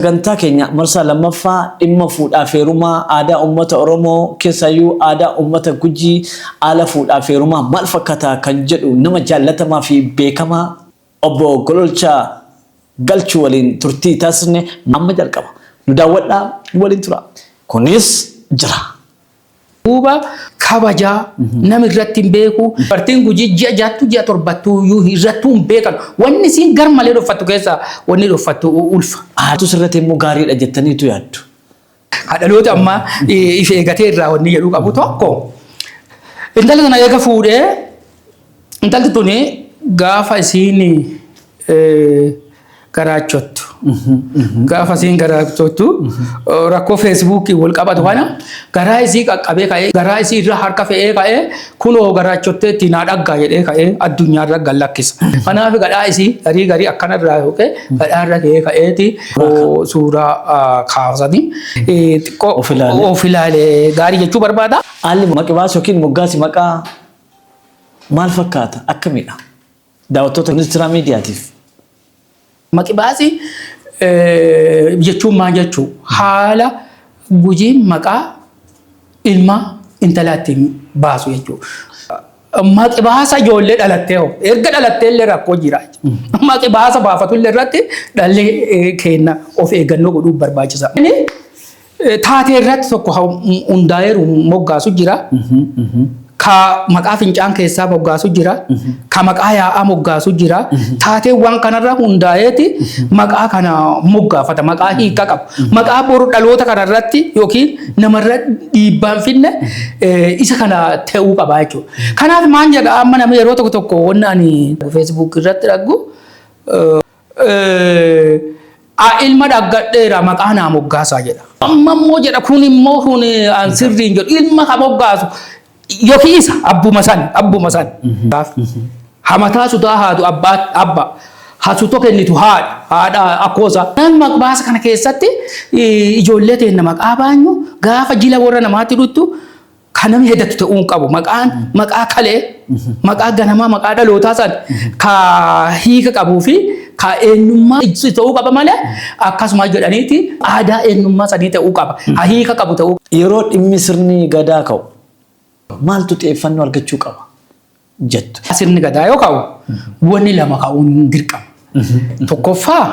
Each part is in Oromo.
Sagantaa keenya marsaa lammaffaa dhimma fuudhaaf heerumaa aadaa uummata Oromoo keessaayyuu aadaa uummata Gujii haala fuudhaaf heerumaa maal fakkata kan jedhu nama jaallatamaa fi beekamaa Obbo Gololchaa Galchuu waliin turtii taasisne amma jalqaba. Nu daawwadhaa, nu waliin turaa. Kunis jira! duuba kabajaa nami irratti hin beeku bartiin gujii ji'a jaattu ji'a torbattu iyyuu irrattuu hin beekan wanni isiin gar malee dhoffattu keessa wanni dhoffattu ulfa. Aartus irratti immoo gaariidha jettaniitu yaaddu. Dhaloota ammaa if eegatee irraa wanni jedhu qabu tokko intala sana eega fuudhee Intalti tuni gaafa isiin garaachottu. Gaafa isiin garaachottu rakkoo feesbuukii wal qabatu kana garaa isii qaqqabee ka'ee garaa isii irra harka fe'ee ka'ee kunoo garaachottee ittiin haa dhaggaa jedhee ka'ee addunyaa irra gad lakkisa. Kanaaf gadhaa isii garii garii akkana irraa yookiin gadhaa irra ka'ee ka'eeti suuraa kaasanii xiqqoo Of ilaalee. of ilaalee gaarii jechuu barbaada. Haalli maqibaa yookiin moggaasi maqaa Maal fakkaata? Akkamidha? Daawwattoota Ministiraa Miidiyaatiif. Maqibaasii jechuun maal jechuu? Haala gujiin maqaa ilma intalaa ittiin baasu jechuudha. Maqibaasa ijoollee dhalattee hoo? Erga dhalattee illee rakkoo jira. Maqibaasa baafatu illee irratti dhalli keenya of eeggannoo godhuu barbaachisa. Eh, Taatee irratti tokko ha- m- hundaa'eeru moggaasu jira. Ka maqaa fincaan keessaa moggaasu jira. Ka maqaa yaa'aa moggaasu jira. Taateewwan kanarra hundaa'eeti maqaa kana moggaafata. Maqaa hiika qabu. Maqaa boru dhaloota kanarratti yookiin namarra dhiibbaan finne eh, isa kana ta'uu qaba jechuudha. Kanaaf maal jedha amma namni yeroo tokko tokko wanni ani feesbuuk irratti dhaggu a ilma dhaggadheera maqaa naa moggaasaa jedha. Amma immoo jedha kun immoo kun an sirriin jedhu ilma ha moggaasu yookiin isa abbuma san abbuma san. Hamataa sutaa haatu abbaa abba hasuto kennitu haadha haadha akkoosa. Nan maqbaasa kana keessatti ijoollee teenna maqaa baanyu gaafa jila warra namaatti dhuttu Kan namni heddattu ta'uu hin qabu. Maqaan maqaa kalee, maqaa ganamaa, maqaa dhalootaa san ka hiika qabuu fi ka eenyummaa ibsu ta'uu qaba malee akkasuma jedhaniiti aadaa eenyummaa sanii ta'uu qaba. Ha hiika qabu ta'uu qaba. Yeroo dhimmi sirni gadaa ka'u maaltu xiyyeeffannoo argachuu qaba? jettu. Sirni gadaa yoo ka'u wanni lama ka'uun dirqama. Tokkoffaa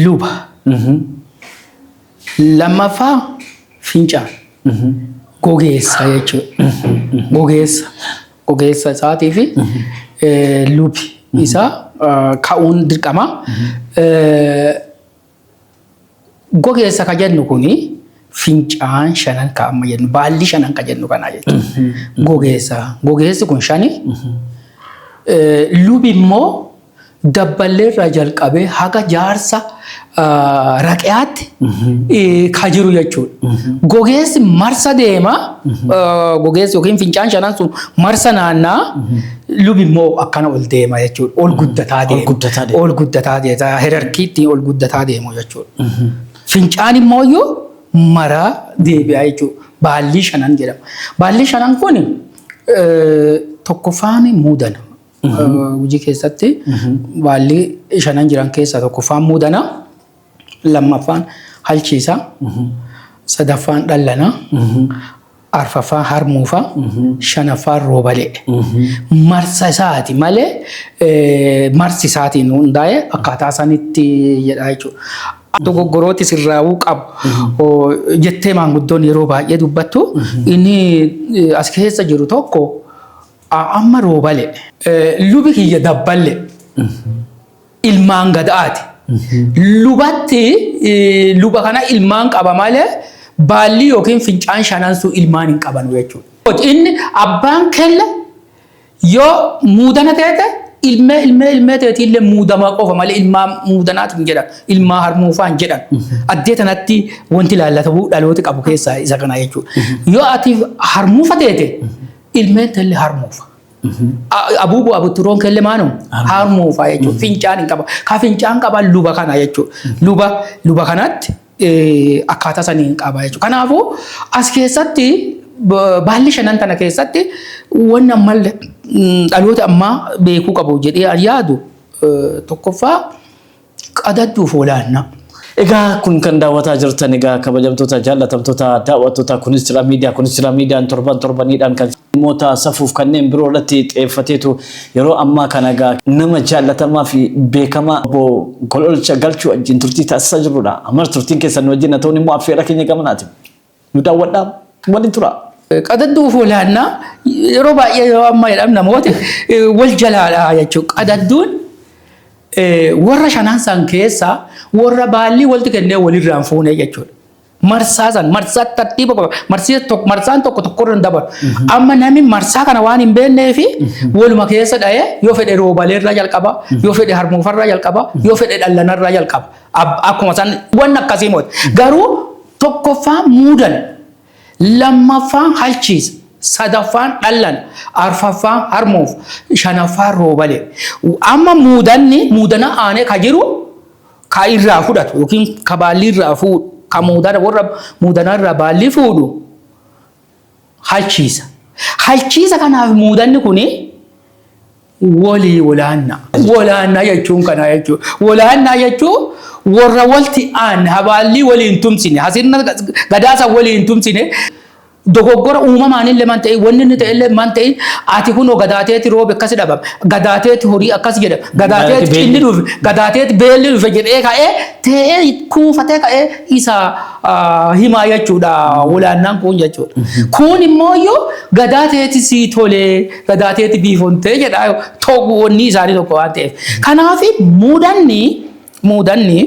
luba. Lammaffaa fincaan. Gogeessa jechuudha. Gogeessa. Gogeessa isaatii fi lubi isaa ka'uun dirqama. Gogeessa ka jennu kun fincaan shanan ka amma jennu baalli shanan ka jennu kanaa jechuudha. Gogeessa gogeessi kun shani lubi immoo dabballee irraa jalqabee haga jaarsa raqiyaatti ka jiru jechuudha. Gogeessi marsa deema gogeessi yookiin fincaan shanan sun marsa naannaa Lubi immoo akkana ol deema jechuudha. Ol guddataa deema. guddataa deema. Ol guddataa deema. Herarkiitti ol guddataa deemu jechuudha. Fincaan immoo iyyuu maraa deebi'aa jechuudha. Baallii shanan jedhama. Baallii shanan kun tokkoffaan muudana. Hojii keessatti baallii shanan jiran keessaa tokkoffaan muudana. Lammaffaan halchiisa. Sadaffaan dhallana. arfaffaan harmuufa shanaffaan roobalee marsa isaati malee eh, marsi isaatiin hundaa'e akkaataa sanitti jedha jechuudha. Dogoggorooti sirraa'uu qabu Oo, jettee maanguddoon yeroo baay'ee dubbattu inni eh, as keessa jiru tokko a- amma roobale eh, lubi kiyya dabballe ilmaan gadaati. Lubatti luba kana ilmaan qaba malee baallii yookiin fincaan shanansuu ilmaan hin qabanu jechuudha. Inni abbaan kelle yoo muudana teete ilmee ilmee ilmee teeti illee muudamaa qofa malee ilmaa muudanaatu hin jedhan ilmaa harmuufaa hin jedhan addee tanatti wanti laallatamu dhalooti qabu keessaa isa kana jechuudha. Yoo ati harmuufa teete ilmeen teellee harmuufa. Abuuboo abuturoon kelle maanu harmoo faa jechuudha. Fincaan hin qaba. Ka fincaan qaba luba kana jechuudha. Luba luba kanatti akkaataa sanii hin qaba jechuudha. Kanaafuu as keessatti baalli shanan tana keessatti waan amma dhaloota ammaa beekuu qabu jedhee yaadu tokkoffaa qadadhu foolaannaa. Egaa kun kan daawwataa jirtan egaa kabajamtoota jaallatamtoota daawwattoota kunis jira miidiyaa kunis jira miidiyaan torban torbaniidhaan kan dhimmoota safuuf kanneen biroo irratti xeeffateetu yeroo ammaa kana egaa nama jaallatamaa fi beekamaa obbo Gololcha Galchuu wajjin turtii taasisaa jirrudha. Ammas turtiin keessan wajjin haa ta'uun immoo affeerraa keenya gamanaati. Nu daawwadhaa, waliin turaa. Qadadduu fi walaannaa yeroo baay'ee yeroo ammaa jedhamu namooti eh, wal jalaadha jechuudha. Qadadduun eh, warra shanan san keessaa warra baallii walitti kennee walirraan fuunee jechuudha. Marsaa san marsaa tartiiba qaba. Marsii tokko marsaan tokko tokkorra hin dabalu. Amma namni marsaa kana waan hin beeknee fi waluma keessa dha'ee yoo fedhe roobaleerraa jalqaba, yoo fedhe harmuufarraa jalqaba, yoo fedhe dhallanarraa jalqaba. Ab- Akkuma san waan akkasii mooti. Garuu Tokkoffaa muudana. Lammaffaan halchiisa. Sadaffaan dhallana. Arfaffaan harmoof. Shanaffaan roobale. Amma muudanni muudana aanee ka jiru ka irraa fudhatu yookiin ka baallii irraa fuudhu ka muudana warra muudana irraa baallii fuudhu halchiisa. Halchiisa kanaaf muudanni kun Walii walaannaa. Walaannaa jechuun kanaa jechuudha. Walaannaa jechuun warra walti aanne habaallii waliin tumsine hasirna gadaasa waliin tumsine dogoggora uumamaan illee man ta'e wanni inni ta'e illee man ta'e ati kunoo gadaateeti roobe akkasi dhabame gadaateeti horii akkas jedhame gadaateeti cinni dhufe gadaateeti beelli dhufe jedhee ka'ee ta'ee kuufatee ka'ee isa himaa jechuudha walaannaan kun jechuudha. Kun immoo yoo gadaateeti sii tolee Gadaateetti biifontee jedha toogu wanni isaanii tokko waan ta'eef. Kanaaf muudanni muudanni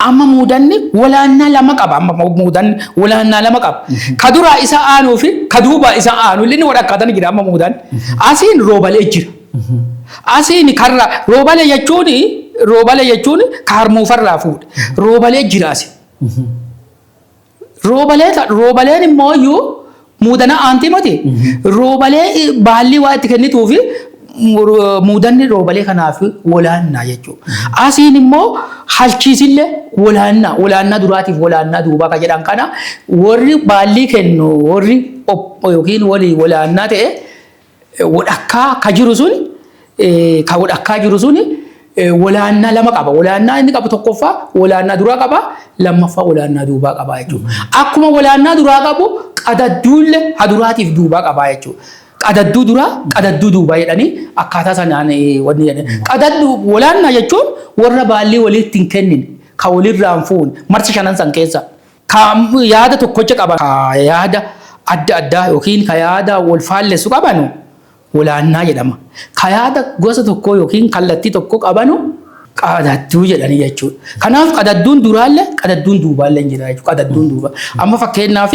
amma muudanni walaannaa lama qaba amma muudanni walaannaa lama qaba. Ka duraa isa aanuu fi ka duubaa isa aanu illee ni walakkaatan jira amma muudanni. Asiin roobalee jira. Asiin karra roobalee jechuun roobalee jechuun ka harmuufarraa fuudhe. Roobalee jira asiin. Roobalee kan roobaleen immoo iyyuu muudana aantii moti. Roobalee i- baallii waa itti kennituu fi mur- muudanni roobalee kanaaf wolaannaa jechuudha. Asiin immoo halchiisillee wolaannaa wolaannaa duraatiif wolaannaa duubaa kan jedhan kana warri baallii kennu warri op yookiin walii wolaannaa ta'e wodhakkaa ka jiru suni ka wodhakkaa jiru suni wolaannaa lama qaba. Wolaannaa inni qabu tokkoffaa wolaannaa duraa qaba, lammaffaa wolaannaa duubaa qaba jechuudha. Akkuma wolaannaa duraa qabu qadadduulle ha duraatiif duubaa qaba jechuudha. Qadadduu duraa, qadadduu duubaa jedhanii akkaataa sanaan wanni jedhan. Qadaddu wolaannaa jechuun warra baallii walitti hin kennine, ka walirraa hin fuune, marsa shanan san keessa. Ka yaada tokkocha qaban ka yaada adda addaa yookiin ka yaada wal faallessu qabanu walaannaa jedhama. Ka yaada gosa tokkoo yookiin kallattii tokko qabanu qadadduu jedhani jechuudha. Kanaaf qadadduun duraalle qadadduun duubaalle hin jira jechuudha. Qadadduun duubaa. Amma fakkeenyaaf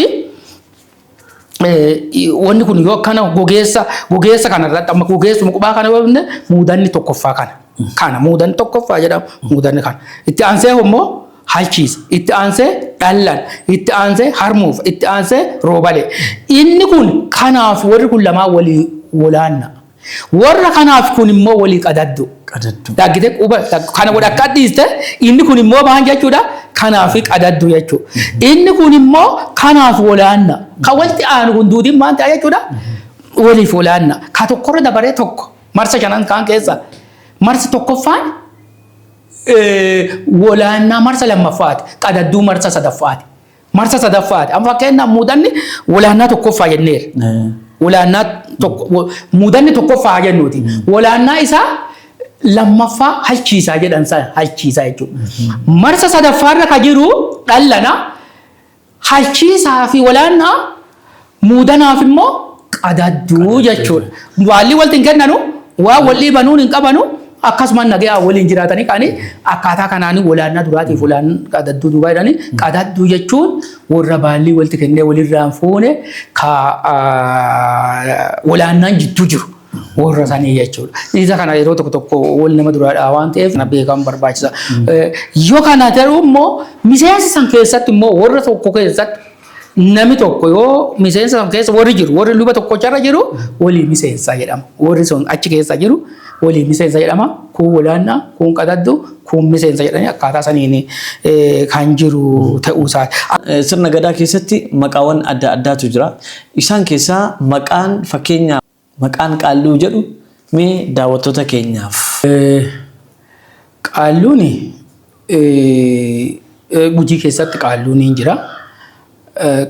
wanni kun yoo akkana gogeessa gogeessa kana irratti amma gogeessuma qubaa kana yoo jenne muudanni tokkoffaa kana kana muudanni tokkoffaa jedhama muudanni kana itti aansee immoo halchiisa itti aansee dhallan itti aansee harmuuf itti aansee roobalee inni kun kanaaf warri kun lamaa walii walaanna Warra kanaaf kun immoo walii qadaddu. Qadaddu. Dhaggite quba kana godha akka dhiiste inni kun immoo maal jechuudha kanaaf qadaddu jechuudha. Inni kun immoo kanaaf walaanna. Kan walitti aanu kun duudiin maal ta'a jechuudha waliif walaanna. Ka tokkorra dabaree tokko marsa shanan kaan keessa marsi tokkoffaan walaannaa marsa lammaffaati qadadduu marsa sadaffaati. Marsa sadaffaati. Amma fakkeenyaaf muudanni walaannaa tokkoffaa jenneera. Walaannaa tokko muudanni tokkoffaa jennuuti. Walaannaa isaa lammaffaa halchiisaa jedhan sana halchiisaa jechuudha. Marsa sadaffaarra ka jiru dhallana halchiisaa fi walaannaa Muudanaaf immoo qadadduu jechuudha. Waallii walti hin kennanu, waan wal dhiibanuun hin qabanu, akkasuma nagayaan waliin jiraatanii kaanii akkaataa kanaanii walaannaa duraatiif walaan qadadduu duubaa jedhanii qadadduu jechuun warra baallii walti kennee walirraa hin fuune ka walaannaan jidduu jiru. warra sanii jechuudha. Isa kana yeroo tokko tokko wal nama duraadhaa waan ta'eef na beekamu barbaachisa. Yoo kana ta'u immoo miseensa san keessatti immoo warra tokko keessatti Nami tokko yoo miseensa san keessa warri jiru, warri luba tokkocharra jiru walii miseensa jedhama. Warri sun achi keessa jiru walii miseensa jedhama. Kuun walaannaa, kuun qadaddu, kuun miseensa jedhanii akkaataa saniin eh, kan jiru ta'uu isaati. Eh, Sirna gadaa keessatti maqaawwan adda addaatu jira. Isaan keessaa maqaan fakkeenya Maqaan Qaalluu jedhu mee daawwattoota keenyaaf. Qaalluun Gujii keessatti Qaalluun ni jira.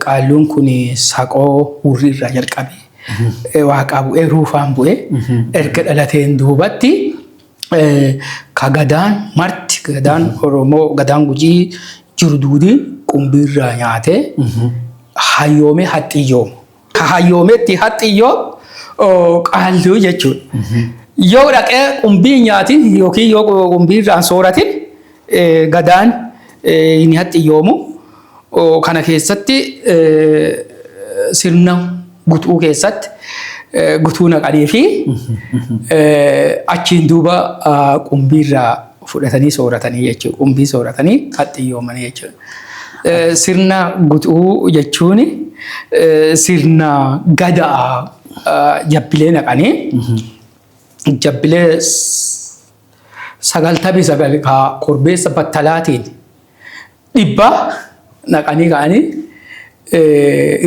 Qaalluun kun Saqoo Hurrii irraa jalqabee Waaqaa bu'ee Ruufaan bu'ee erga dhalateen duubatti ka gadaan marti gadaan Oromoo gadaan Gujii jiru duudii qumbii irraa nyaatee hayyoomee haxxiyyoomu. Ka hayyoometti haxxii yoo oo, qaalluu jechuudha. Yoo dhaqee qumbii hin nyaatin yookiin yoo qumbii irraa hin sooratin eh, gadaan eh, hin haxxiyyoomu. Oo, Kana keessatti eh, sirna gutuu keessatti eh, gutuu naqanii fi eh, achiin duuba ah, qumbii irraa fudhatanii sooratanii jechuudha. Qumbii sooratanii haxxiyyoomanii jechuudha. Sirna gutuu jechuun sirna gadaa jabbilee naqanii jabbilee sagaltamii sagal kaa korbeessa battalaatiin dhibbaa naqanii ka'anii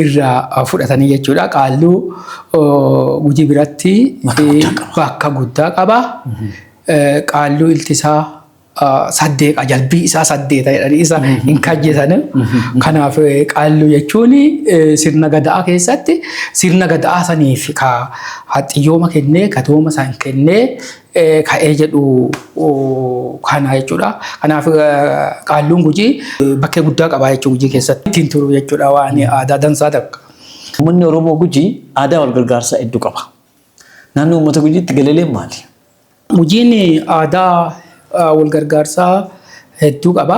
irraa fudhatanii jechuudha. Qaalluu gujii biratti bakka guddaa qaba. Qaalluu iltisaa. saddeeqa jalbii isaa saddeeta jedhanii isa hin kajjeesani. Kanaaf qaalluu jechuun sirna gada'aa keessatti sirna gada'aa saniif ka haxxiyyooma kennee ka tooma san kennee ka'ee jedhu kana jechuudha. Kanaaf qaalluun gujii bakkee guddaa qabaa jechuudha gujii keessatti ittiin turu jechuudha waan aadaa dansaa takka. Uummanni Oromoo Gujii aadaa wal gargaarsaa hedduu qaba. Naannoo uummata Gujiitti galeeleen maali? Hojiin aadaa walgargaarsaa hedduu qaba.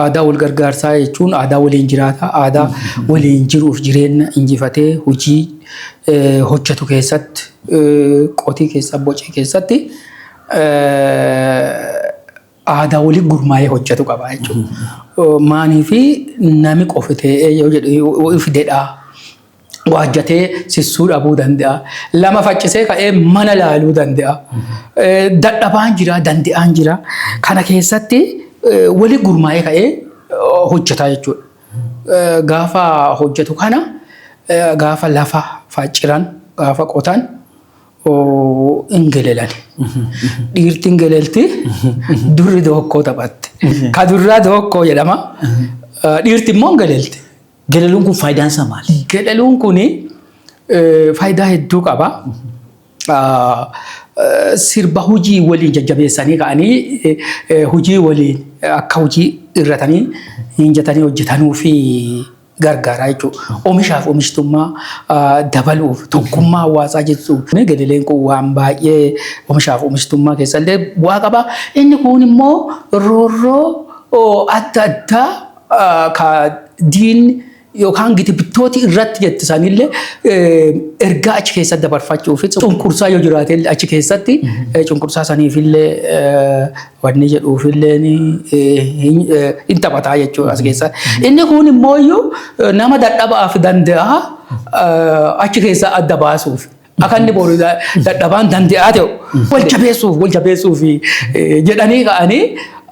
Aadaa walgargaarsaa jechuun aadaa waliin jiraata, aadaa waliin jiruuf jireenya injifatee hojii hojjetu keessatti, qotii keessa bocee keessatti aadaa waliin gurmaa'ee hojjetu qaba jechuudha. Maanii fi nami qofi ta'ee yoo jedhu fidedhaa. waajjatee sissuu dhabuu danda'a. Lama faccisee ka'ee mana laaluu danda'a. Dadhabaan jira, danda'aan jira. Kana keessatti wali gurmaa'ee ka'ee hojjetaa jechuudha. Gaafa hojjetu kana gaafa lafa facciran, gaafa qotan hin gelelan. Dhiirti hin gelelti, durri dookkoo taphatte. Ka durraa dookkoo jedhama. Dhiirti immoo hin gelelti. Galaluun kun faayidaan isaa maali? Galaluun kun faayidaa hedduu qaba. Sirba hojii waliin jajjabeessanii ka'anii hojii waliin akka hojii irratanii hinjatanii hojjetanuu fi gargaaraa jechuudha. Omishaaf omishtummaa dabaluuf tokkummaa hawaasaa jechuun gadaleen kun waan baay'ee omishaaf omishtummaa keessallee bu'aa qaba. Inni kun immoo roorroo adda addaa ka diin yookaan giti bittooti irratti jetti sanillee ergaa achi keessatti dabarfachuu fi cunqursaa yoo jiraate achi keessatti cunqursaa saniifillee wanni jedhuufillee hin taphataa jechuudha as keessa. Inni kun immoo iyyuu nama dadhabaaf danda'a achi keessaa adda baasuuf. Akka inni boru dadhabaan dande'aa ta'u wal jabeessuuf wal jabeessuuf jedhanii ka'anii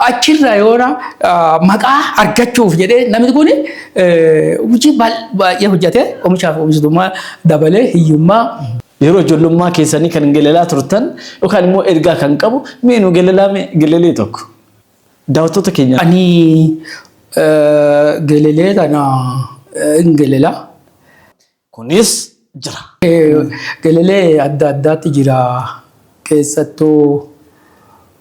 achirra yoona maqaa argachuuf jedhee namni kun hojii baay'ee hojjete omishaaf oomishtummaa dabalee hiyyummaa yeroo ijoollummaa keessanii kan gelalaa turtan yookaan immoo ergaa kan qabu mee nu gelalaa mee gelalee tokko daawwattoota keenya. Ani gelalee kana hin gelalaa. kunis jira. Gelelee adda addaatti jira. Keessattuu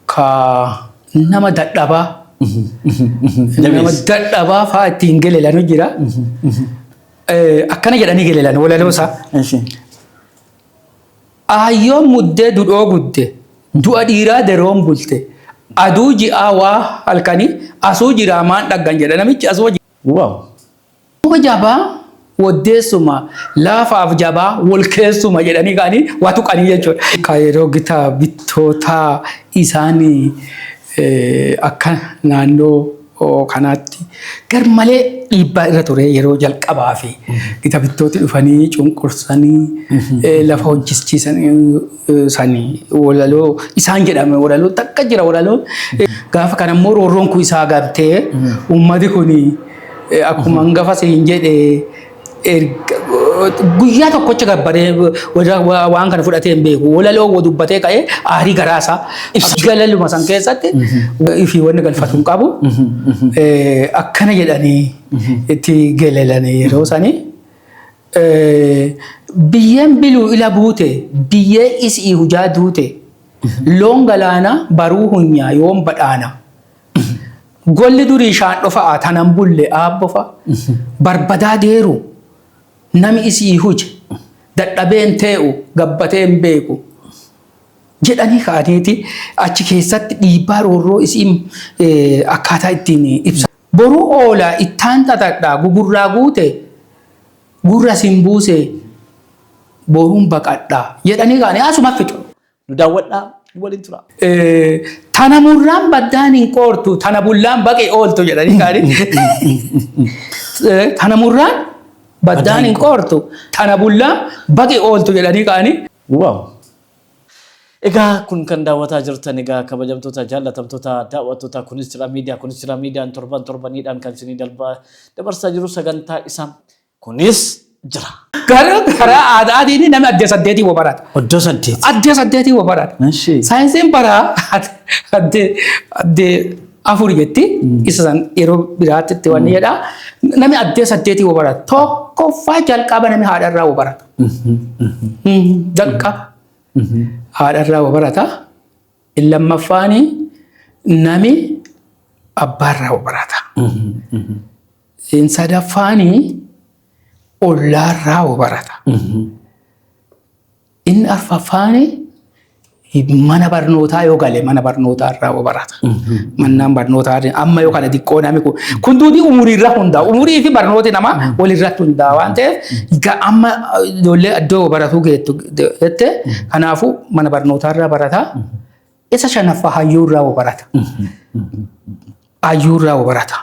ka nama dadhabaa nama Jabeessi. dadhabaa fa'aa ittiin gelelanu jira. Eh, Akkana jedhanii gelelan walaloosaa. Eshi. Aayyoon muddee dudhoo gudde du'a dhiiraa deroon bulte aduu ji'aa waa halkanii asuu jiraa maan dhaggan jedha namichi asuu Wow. Muka jabaa woddeessuma, laafaaf jabaa wol keessuma jedhanii ka'anii waa tuqanii jechuudha. Ka yeroo gita bittootaa isaan akka naannoo kanaatti garmalee dhiibbaa irra ture yeroo jalqabaa fi gita bittooti dhufanii cunqursanii lafa hojjechiisan sanii walaloo isaan jedhame walaloo takka jira walaloo gaafa kanammoo roorroon kun isaa gabtee uummati kun Akkuma hangafa siin jedhe erga- guyyaa tokkocha gabbaree warra- wa- waan kana fudhatee hin beeku. Walaloo wa dubbatee ka'ee aarii garaasaa ibsa. Galaluma san keessatti ifii wanni galfatu hin qabu. Eh, Akkana jedhanii itti galalanii yeroo sanii. Eh, Biyyeen biluu ila buute biyyee isii hujaa duute loon galaana baruu hunyaa yoon badhaana. Golli durii shaandhofa'a tanan bulle aabbofa barbadaa geeru nami isii huje dadhabeen tee'u gabbateen beeku jedhanii ka'aniiti achi keessatti dhiibbaa roorroo isiin eh, akkaataa ittiin ibsa. Boruu oola ittaan xaxadha gugurraa guute gurra sin buuse boruun baqadha jedhanii ka'anii asuma fixu. Nu daawwadhaa, nu waliin turaa. Tana murraan baddaan hin qoortu, tana bullaan baqe ooltu jedhanii kaanii. Tana murraan baddaan hin qoortu, tana bullaan baqe ooltu jedhanii kaanii. Waaw! Egaa kun kan daawwataa jirtan egaa kabajamtoota jaallatamtoota daawwattoota kunis jira miidiyaa kunis jira miidiyaan torban torbaniidhaan kan isinii dalba dabarsaa jiru sagantaa isaa Kunis jira. Garuu karaa aadaatiin namni addee saddeetii wa barata. Oddoo saddeet. Addee saddeetii wa barata. Eshi. Saayinsiin bara addee addee afur jetti. Isa san yeroo biraatti itti wanni jedha. Namni addee saddeetii wa barata. Tokkoffaa jalqaba namni haadharraa wa barata. Jalqaba haadharraa wa barata. Inni lammaffaan nami abbaarraa barata. Inni sadaffaan ollaarraa barata. Inni arfaffaan mana barnootaa yoo gale mana barnootaa irraa barata. Mannaan barnootaa amma yoo kana xiqqoo nami kun kun duudii umurii irra hundaa'a. Umurii fi barnooti namaa walirratti hundaa'a waan ta'eef ga- amma ijoollee iddoo baratuu geettu jette kanaafuu mana barnootaa irraa barata isa shanaffaa hayyuu irraa wa barata hayyuu irraa wa barata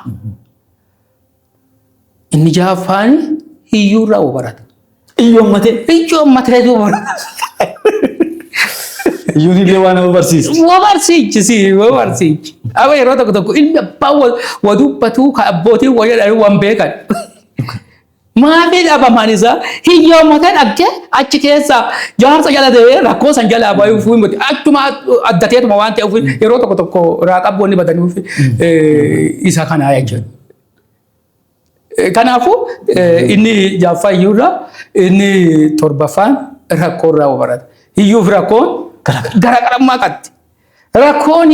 inni ja'affaan hiyyuu irraa wa barata Iyyoo ammatee. hiyyuu ammatee wa barata Iyyuun illee waan nama barsiisa. wa barsiichi si wa barsiichi amma yeroo tokko tokko ilmi abbaan wa- wa dubbatu ka abbootiin wa jedhan waan beekan Maatii dhabamaan isaa hiyyoomota dhabde achi keessa jaarsa jala ta'ee rakkoo san jalaa bayuu fi miti achuma addateetuma waan ta'eef yeroo tokko tokko irraa qabboonni badanii fi isa kanaa jechuudha. Kanaafuu inni jaaffaa hiyyuurraa inni torbaffaan rakkoorraa barata. Hiyyuuf rakkoon garaagarummaa qabdi. Rakkoon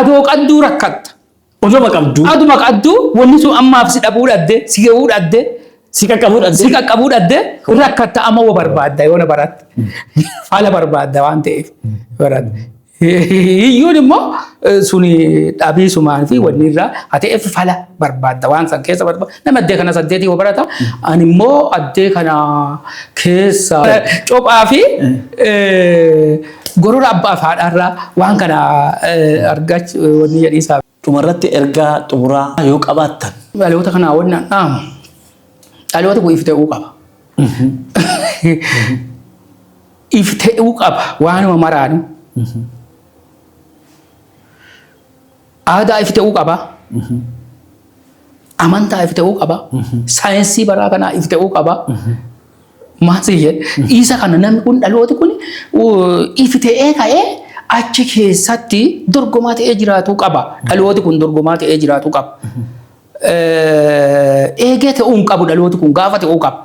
adoo qadduu rakkatta. Odoma qabdu. Aduma qaddu wanni sun ammaaf si dhabuu dhadde, si ga'uu dhadde, Si qaqqabuu si dhabdee. qaqqabuu dhadde rakkatta amma wa barbaadda yoona baratte. Fala barbaadda waan ta'eef baratte. Hiyyuun immoo eh, suni dhabii sumaan fi wanni irraa haa ta'eef fala barbaadda waan san keessa barbaadda. Nama addee kana saddeetii wa barata. Ani immoo addee kana keessa cophaa fi eh, Gorora abbaaf haadhaarraa waan kana argaachu wanni jedhiisaa. Dhumarratti ergaa xumuraa yoo qabaattan. Dhaloota kanaa wanni an dhaamu dhalooti kun ifte'uu qaba. Ifte'uu qaba waanuma maraanu. Aadaa ifi ta'uu qaba. Amantaa ifi ta'uu qaba. Saayinsii baraa kanaa ifi ta'uu qaba. Maal si jedhe? Isa kana namni kun dhalooti kun ifi ta'ee ka'ee achi keessatti dorgomaa ta'ee jiraatuu qaba. Dhalooti kun dorgomaa ta'ee jiraatuu qaba. Eegee ta'uu hin qabu dhalooti kun gaafa ta'uu qaba.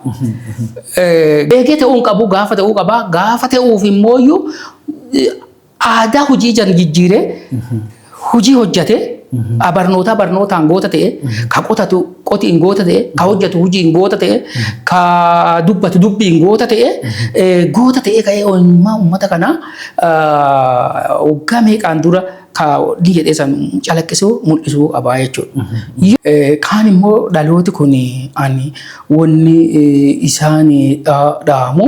Eegee ta'uu hin qabu gaafa ta'uu qaba. Gaafa ta'uuf immoo Aadaa hojii jan jijjiiree hojii hojjate barnootaa barnootaan goota ta'e ka qotatu qotiin goota ta'e ka hojjatu hojiin goota ta'e ka dubbatu dubbiin goota ta'e goota ta'e ka'ee eenyummaa uummata kanaa waggaa meeqaan dura ka ni jedhee san calaqqisuu mul'isuu qabaa jechuudha. Kaan immoo dhalooti kun ani wanni isaan dhaamu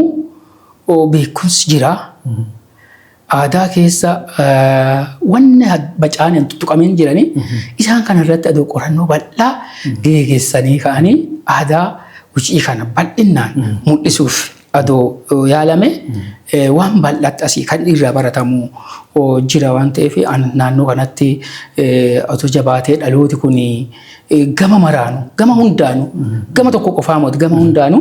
beekumsi jira. aadaa keessa wanni bacaan hin tuttuqamin jiranii isaan kana irratti adoo qorannoo bal'aa geegessanii ka'anii aadaa gucii kana bal'innaan mul'isuuf adoo yaalame waan bal'aatti asii kan irraa baratamu jira waan ta'eef naannoo kanatti otoo jabaatee dhalooti kun gama maraanu gama hundaanu gama tokko qofaa moti gama hundaanu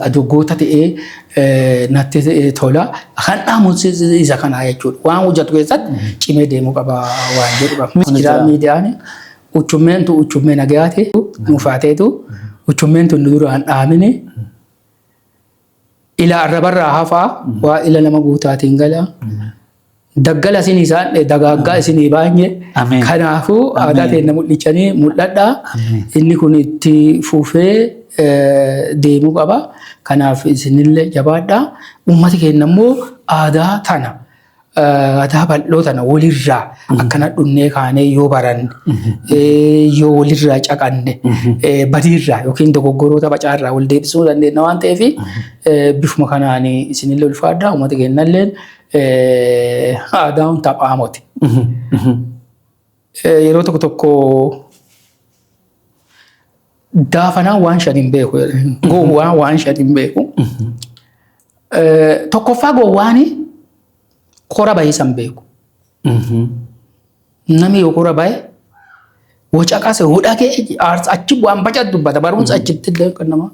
Adoggoota ta'ee natti tola. Kan dhaamuun isa kanaa jechuudha. Waan hojjetu keessatti cimee deemuu qaba waan jedhu qaba. Miidiyaa miidiyaan uchummeen tu uchummee nagayaati nuufaateetu uchummeen tun duraan dhaamini ila arrabarraa hafaa waa ila nama guutaatiin gala. Daggala isin isaan dagaaggaa isin baay'ee. Ameen. Kanaafuu aadaa Ameen. keenya mul'ichanii mul'adha. Ameen. Inni kun itti fufee eh, deemuu qaba. Kanaaf isinillee jabaadha. Uummati keenya immoo aadaa tana eh, aadaa bal'oo tana walirraa akkana dhunnee kaanee yoo baranne eh, yoo walirraa caqanne eh, badiirraa yookiin dogoggoroota bacaarraa wal deebisuu dandeenya waan ta'eef eh, bifuma kanaan isinillee ulfaadha. Uummati keenyallee Eh, Aadaan taphaa moti. Eh, Yeroo tokko tokko daafanaan waan shan hin beeku. Gowwaan waan shan hin beeku. Eh, Tokkoffaa gowwaani kora bahee san beeku. Namni yoo kora bahe wacaqase hudhagee aarsa achi bu'aan baca dubbata barumsa achitti illee kan nama.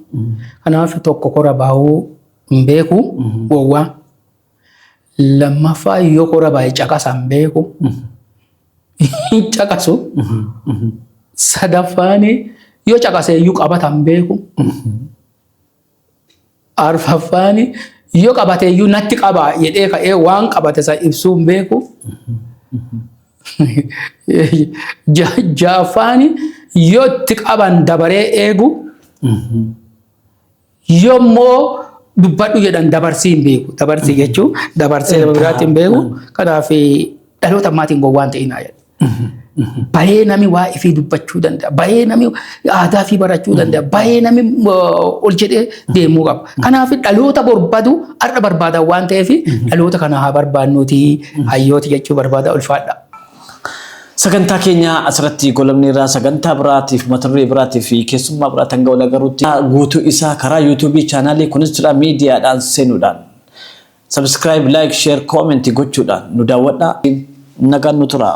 Kanaaf tokko kora bahuu hin beeku gowwaa. Lammaffaa yoo kora baay'ee caqasan beeku hin caqasu. Sadaffaan yoo caqase iyyuu qabatan beeku. Arfaffaan yoo qabate iyyuu natti qabaa jedhee ka'ee waan qabate san ibsuu hin beeku. Ja- Ja'affaan yoo itti qaban dabaree eegu Yommoo dubbadhu jedhan dabarsii hin beeku. Dabarsii jechuun dabarsee nama biraatti hin beeku. Kanaaf dhaloota ammaatiin gowwaan ta'inaa jedha. Bayee nami waa ifii dubbachuu danda'a. Bayee nami aadaa fi barachuu danda'a. Bayee nami uh, ol jedhee deemuu qaba. Kanaaf dhaloota barbadu har'a barbaadan waan ta'eef dhaloota kana haa barbaannuuti hayyooti jechuu barbaada ulfaadha. Sagantaa keenya asirratti golabneerra sagantaa biraatiif mata duree biraatiif fi keessummaa biraa hanga wal agarruutti guutuu isaa karaa yuutuubii chaanaalii kunis jira miidiyaadhaan seenuudhaan subscribe like share comment gochuudhaan nu daawwadhaa nagaan nu turaa.